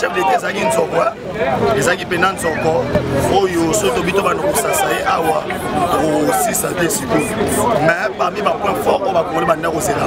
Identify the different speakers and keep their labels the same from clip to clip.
Speaker 1: chef leta ezalaki nzoko ezalaki mpenza nzoko oyo soki tobi to banda kosasa ye awa kosisa te sikoyo mais parmi bapoint fort oyo bakongoli banda kozela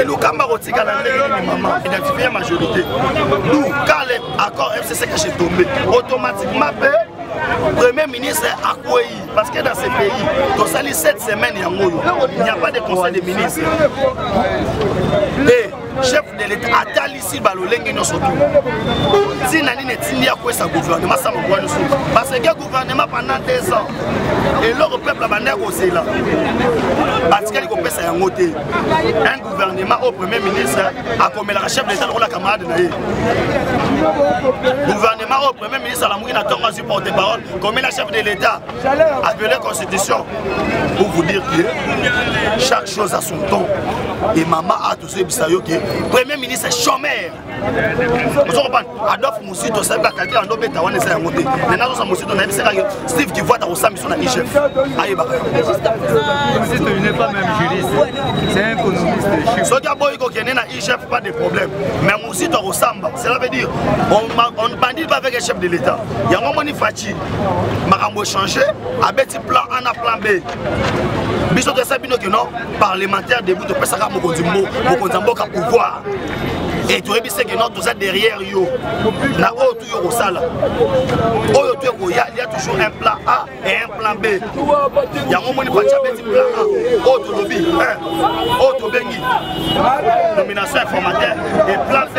Speaker 1: elukamba kotikala ndenge nini mama identifie ya majorité du kale accord fcc cache tombe automatiquement mpe premier ministre akwei parce que dans ce pays tosali 7 semaines yango oyo il n'y a pas de conseil de ministre et chef de l'état atalisi balolenge nyonso tu ntina nini etindi akwesa gouvernement sama bwa nyonso parce que gouvernement pendant deux ans eloko peuple abandaki kozela batikali kopesa yango te un gouvernement au premier ministre akomelaka chef d'état lokola camarade na ye gouvernement au premier ministre alamuki na ntongo azwi porte parole komela chef de l'état apele constitution pour vous dire que chaque chose à son temps et mama a tozoyebisa yo ke premier ministre chomeur ozo kopana adolphe mosito asabi bakalkile ando beta wana eza yango te me nazosa mosito nayebisi kaka steve kivuata kosala biso na igf ayebaka
Speaker 2: soki aboyi
Speaker 1: kokende na igf pas de problème mais mosito akosamba cela veut dire on ne bandit pas avec chef de l'état yango omoni faci makambo echange abeti plan a na plan b biso toyesa bino kino parlementaire debout topesaka mokonzi mokonzi ya mboka pouvoir e toyebi seke no toza derrière yo na oyo tu yo kosala oyo tu ekoya ya toujours un plan a et un plan b yango omoni paci abeti plan a oyo tolobi oyo tobengi nomination informateur et plan b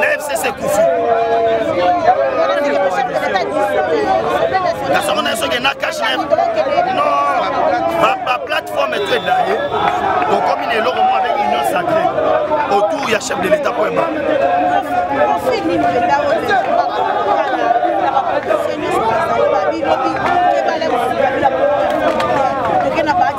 Speaker 1: na fcc kufi nasoko na soki na cash na non baplateforme to edaye tokomi na eloko moko avec union sacré autour ya chef de l'état po eba Thank you.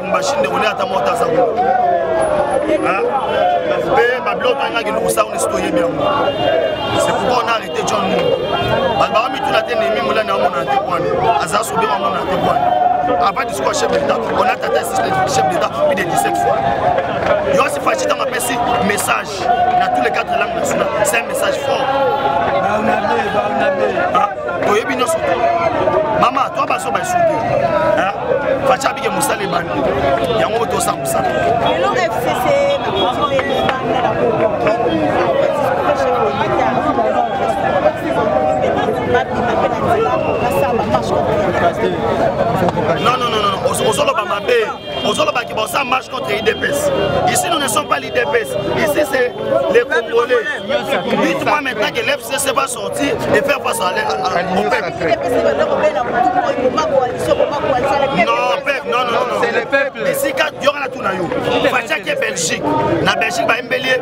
Speaker 1: mashine ndeko nde ata moko taza kuna mpe babiloko toyingaki lukusa kuna esi toyebi yango c'est pourquoi on a arrêté john mou bato baka mituna te nemi molani amonana te kwana aza sobe amonana te kwana avant discours ya chef d'état on a tata chef d'état plus de 17 fois yosi faci ntango apesi message na tous les quatre langues nationales c'est un message fort toyebi nyonso te mama to baso baesuki faci abike mosala ebandi yango tosa
Speaker 3: kosala non non non ozoloba mabe ozoloba ke baosa marche contre idps ici nous ne sommes pas l'idps ici c'est les congolais dites moi maintenant que l'fcc va sortir et faire face à au peuple non peuple non non non esika yokana tuna yo fatiaki belgique na belgique bayembeli ye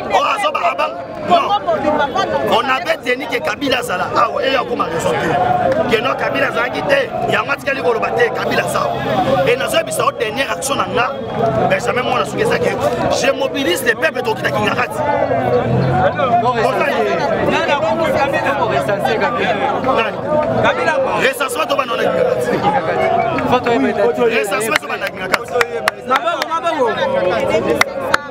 Speaker 1: oyo oh, azoba abanga on avait tenu ke kabila azala awa eye akoma raison te keno kabila azalaki te yango atikali koloba te kabila azawa e nazoyebisa yo dernière action na nga benjamin mwana soki ezaki je mobilise le peuple tokita kingakati recensement tobanda na kingakati recensement tobanda na kingakati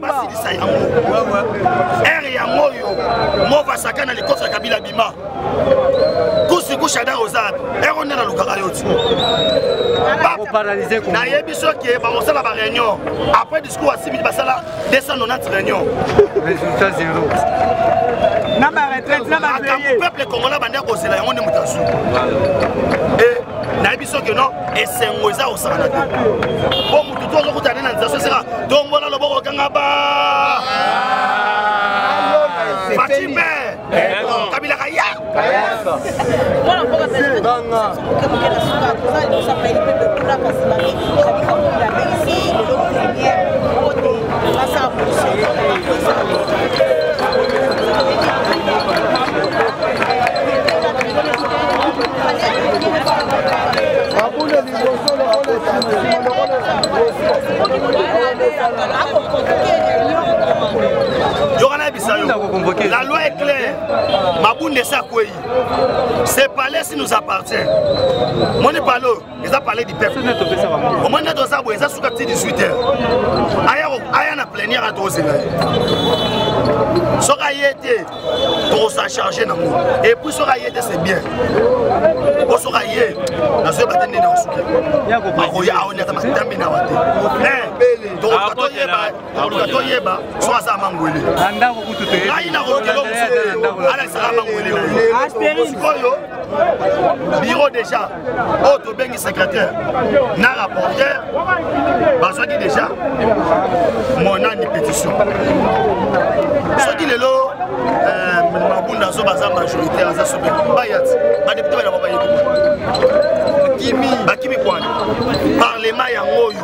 Speaker 1: basilisa yango ere yango oyo mova sakana likofi ya kabila bima kusiku shadar oza wapi ere onde nalukaka yo ti
Speaker 4: nayebi soki
Speaker 1: bakosala bareunion après discours ya simili basala 290 réunion résultat
Speaker 4: zéro
Speaker 1: na baretraite na bakambo peuple congolais bandi akozela yango nde moto azwi eh, nayebi soki non esengo eza kosakana te mpo motu to ozokutana na nzela soseka tombola loboko okanga ba fatime kabila kaya mwana mboka yoka nayebisa yo la loi est claire mabunda esi akwei ce palais si nous appartient moni palo eza palais du peuple omoni nde toza boye eza suka ti 18 heure aya na plenière a tokozela ye soki aye te tokosa charge nango epuis soki aye te c'est bien po soki aye nazoyeba te ndeni akosuki akoya aonyata matambi na wa te tokoluka toyeba tokoluka toyeba soki aza mangwele ngai nakolukelo mosu te alakisaka mangwele na ye sikoyo biro déjà oyo oh, tobengi secrétaire na rapporteur bazwaki déjà monani pétition soki lelo euh, mabunda azo baza majorité aza sobe bayati badepute bana babayeki bakimi bakimi kwana parlement yango oyo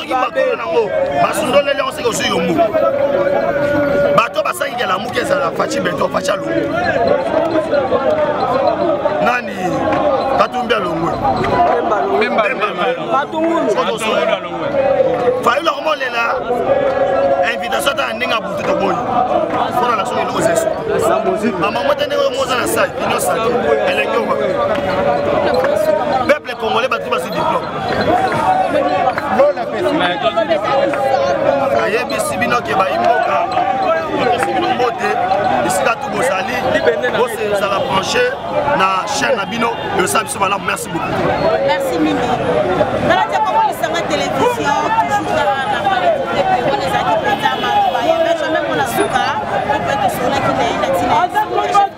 Speaker 3: soki makolo nango basundoleli yango soki ozwi yombo bato basangi kelamuki ezala faci beto faci alongo nani katumbi alongwe fayulu akomolela invitation ata na ndenge abutu toboyi mpona na soki eloko zesu bamama te ndenge oyo moza na sai inyo saki eleki oba congolais batu basi diplome ayebisi bino ke bayi mboka topesi bino mbote esika tu bozali bose ozala branche na chaîne na bino eosala biso malamu merci beaucoup merci mingi
Speaker 5: nalati akomolisanga télévision toujours na wana ezalaki mpenza maloba ya benjamin mpona suka mpe tosolaki na ye na tina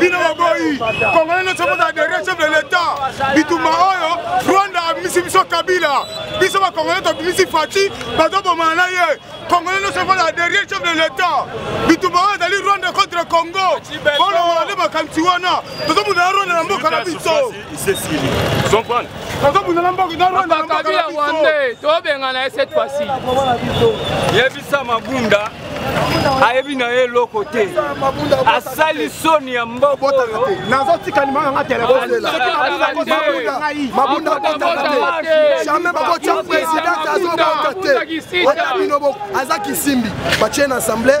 Speaker 6: bino baboyi congolais nyonso kozala derrière chef de l'état bitumba oyo rwanda abimisi biso kabila biso bacongolais tobimisi faci bazobomana na ye congolais nyonso kozala derrière chef de l'état bitumba oyo ezali rwanda contre congo bolongola nde makanisi wana tozobunda na rwanda na mboka na biso isesili
Speaker 7: comprendre tozobundana mboka
Speaker 6: tozobundana rwandais tobengana
Speaker 2: ye cette fois-ci yebisa mabunda ayebi na ye eloko te asali soni ya mboka oyo nazotika
Speaker 6: limao yanga telefonejamai bakotya president azobota te ata bino aza kisimbi batie na assemblée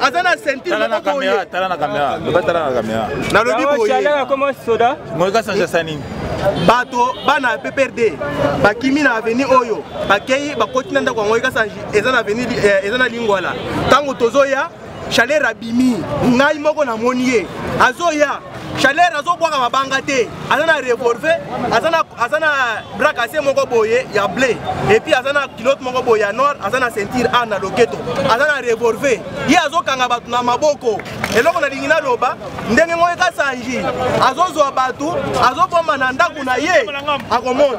Speaker 6: aza na ceinture tala na kamera tala na kamera loba tala na kamera nalobi boye chaleur akoma soda ngoyi kasanja sa nini bato bana ya pprd bakimi na aveni oyo bakei bakoti na ndako yango ekasanji eza na aveni eh, eza na lingwala ntango tozoya chaleur abimi ngai moko namoni ye azoya chaleur
Speaker 8: azobwaka mabanga te aza na revolve aza na brakase moko boye ya bleu epuis aza na kilote moko boye ya noir aza na ceinture ar na loketo aza na revolve ye azokanga bato na maboko eloko nalingi naloba ndenge moko ekasanji azozwa bato azobomba na ndako na ye akomona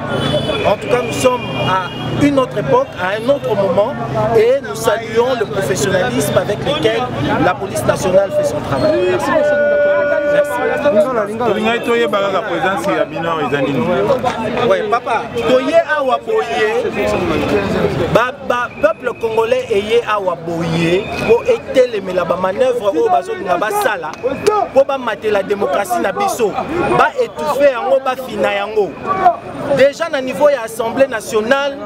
Speaker 8: En tout cas, nous sommes à une autre époque, à un autre moment, et nous saluons le professionnalisme avec lequel la police nationale fait son travail. Merci. tolingai toyeba kaka présence ya bino awa eza nini we papa toye awa boye peuple congolais eye awa boye mpo etelemela bamanœuvre oyo bazolinga basala mpo bamatela démocratie na biso baetouffe yango bafina yango déjà na niveau ya assemblée nationale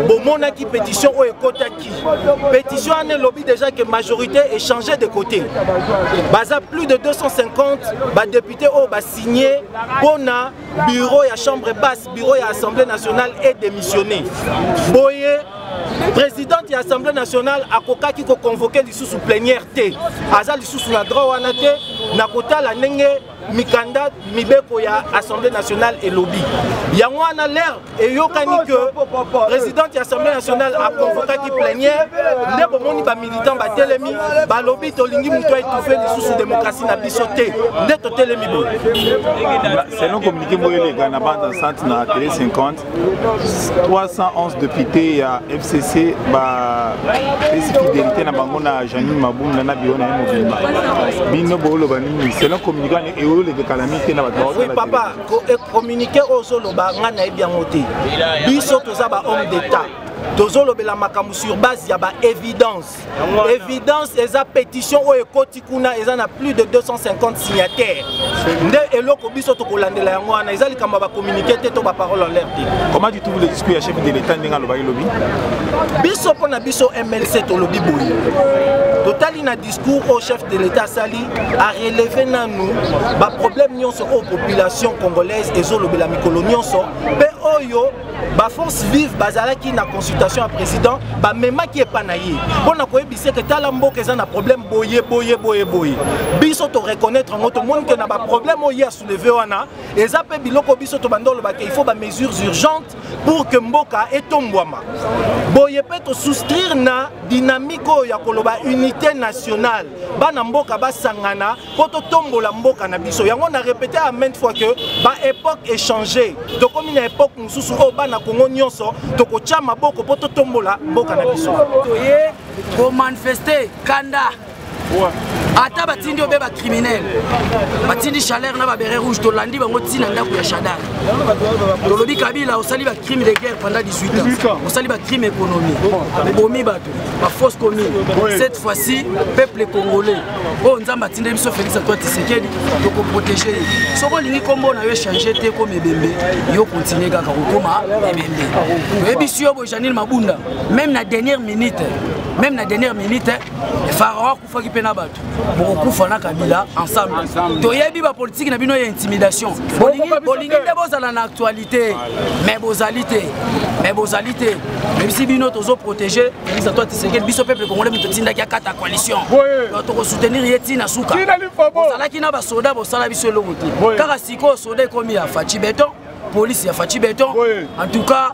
Speaker 8: bomonaki pétition oyo ekotaki pétition wana elobi déjà que majorité echange de côté baza plus de 250 badepute oyo basigne mpo na bureau ya chambre basse bureau ya assemblée nationale e démissionné boye présidente ya assemblée nationale akokaki koconvoke lisusu plénière te aza lisusu na droit wana te na kotala ndenge mikanda mibeko ya assemblée nationale elobi yango wana lere eyokani ke présidente ya assemblée nationale aconvokaki plenière nde bomoni bamilitant batelemi balobi tolingi moto aetufe lisusu démocratie na biso te nde totelemi boye
Speaker 7: selon communiqué moyo eleka na bande enceinte na tele 50 311 députés ya fcc bapesi fidélité na bango na janine mabunda na biro na ye mobimba bino booloba nini selon communiqué wana eoleke kala mingi te na bato
Speaker 8: oui papa e communiqué oyo ozoloba ngai nayebi yango te biso toza ba homme d'état tozolobela makambo sur base ya ba évidence évidence eza pétition oyo ekoti kuna eza na plus de 250 signataire nde eloko biso tokolandela yango wana eza likambo ya bacommunike te to baparole en l'air te comment du tout le discours ya
Speaker 7: chef de l'état ndenge alobaki lobi biso
Speaker 8: mpo na biso mlc tolobi boye totali na discours oyo chef de l'état asali areleve nanu baproblème nyonso oyo population congolaise ezolobela mikolo nyonso mpe oyo ba force vive bazalaki na consultation ya président bamemaki epa na ye mpo na koyebisa ete tala mboka eza na problème boye boye boye boye biso toreconnaitre yango tomoni ke na baproblème oyo ye asouleve wana eza mpe biloko biso tobanda oloba ke il faut bamesures urgentes pour que mboka etombwama boye mpe tosouscrire na dynamique oyo ya koloba unité nationale bana mboka basangana mpo totombola mboka na biso yango na repete ya mainte fois que baepoque échange tokomi na epoque mosusu oyo bana kongo nyonso tokotya maboko mpo totombola
Speaker 9: mboka
Speaker 8: na biso toye
Speaker 9: komanifeste
Speaker 8: kanda
Speaker 9: ata batindi obe bacriminel batindi chaleur na babere rouge tolandi bango ntina ndako ya shadar tolobi kabila osali bacrime de guerre pendant 18 ans osali bacrime économie obomi bato ba fausse commune cette fois-ci peuple congolais oyo oh, nzambe atindeli biso félix antoine tisekedi tokoprotege ye soki olingi nkombo na yo echange te ekoma ebembe yo continue kaka kokoma ebembe oyebisi yo bojanine mabunda même na dernière minute même na dernière minute faraon faki mpe na bato bokokufa na kabila ensemble toyebi bapolitiki na bino ya intimidation bolingi nde bozala na actualité mais bozali te mais bozali te mebisi bino tozoprotege elisa to atisekeli biso peuple congolais moto otindaki akata coalition tokosoutenir ye ntina suka ozalaki na basoda bosala biso eloko te kaka sikoyo soda ekomi ya faci beton police ya faci beton en tout cas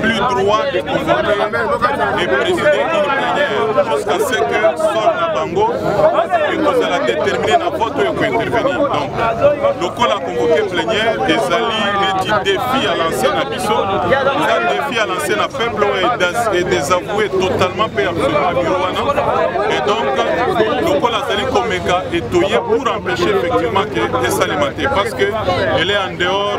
Speaker 7: plus droit de convoquer et présider une plénière jusqu'à ce que sol na bango ekozala déterminé na vote oyo ekointervenir donc lokola convoqué plénière ezali neti défi à lancer na biso eza défi à lancer na peuple oyo est désavoué totalement mpe absolument biro wana et donc lokola azali komeka etoye pour empêcher effectivement que esalema te parce que elle est en dehors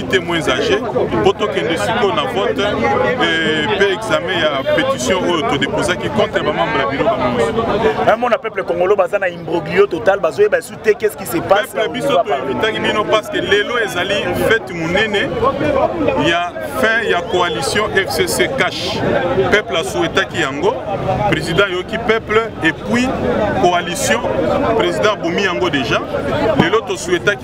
Speaker 7: témoins âgés mpo tokende sikoyo na vote mpe eh, examen ya pétition oyo todeposaki contre bamembre ya biro bango mona
Speaker 8: peuple congolo baza na imbroglio total bazoyeba esu te qu'est ce qui se passe peuple biso toinvitaki bino
Speaker 7: parce que lelo ezali fete monene ya fin ya coalition fcc cash peuple asouetaki yango président ayoki peuple et puis coalition président abomi yango déjà lelo tosouetaki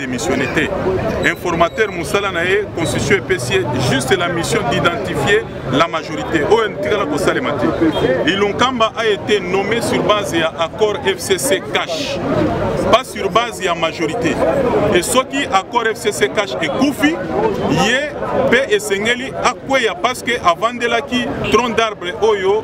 Speaker 7: démissionné te informateur mosala na ye constitution epesi ye juste la mission d'identifier la majorité oyo etikala kosalema te ilunkamba a été nommé sur base ya accord fcc cash pas sur base ya majorité e soki accord fcc cash ekufi ye mpe esengeli akweya parce que avandelaki tronc d'arbre oyo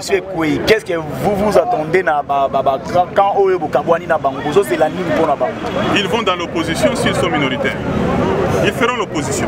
Speaker 7: Monsieur
Speaker 8: Ekweyi, qu'est-ce que vous vous attendez na ba, ba, ba, quand oyo bokabwani na bango bozozela nini mpo na bango
Speaker 7: Ils
Speaker 8: vont dans
Speaker 7: l'opposition
Speaker 8: s'ils
Speaker 7: sont minoritaires.
Speaker 8: Ils
Speaker 7: feront l'opposition.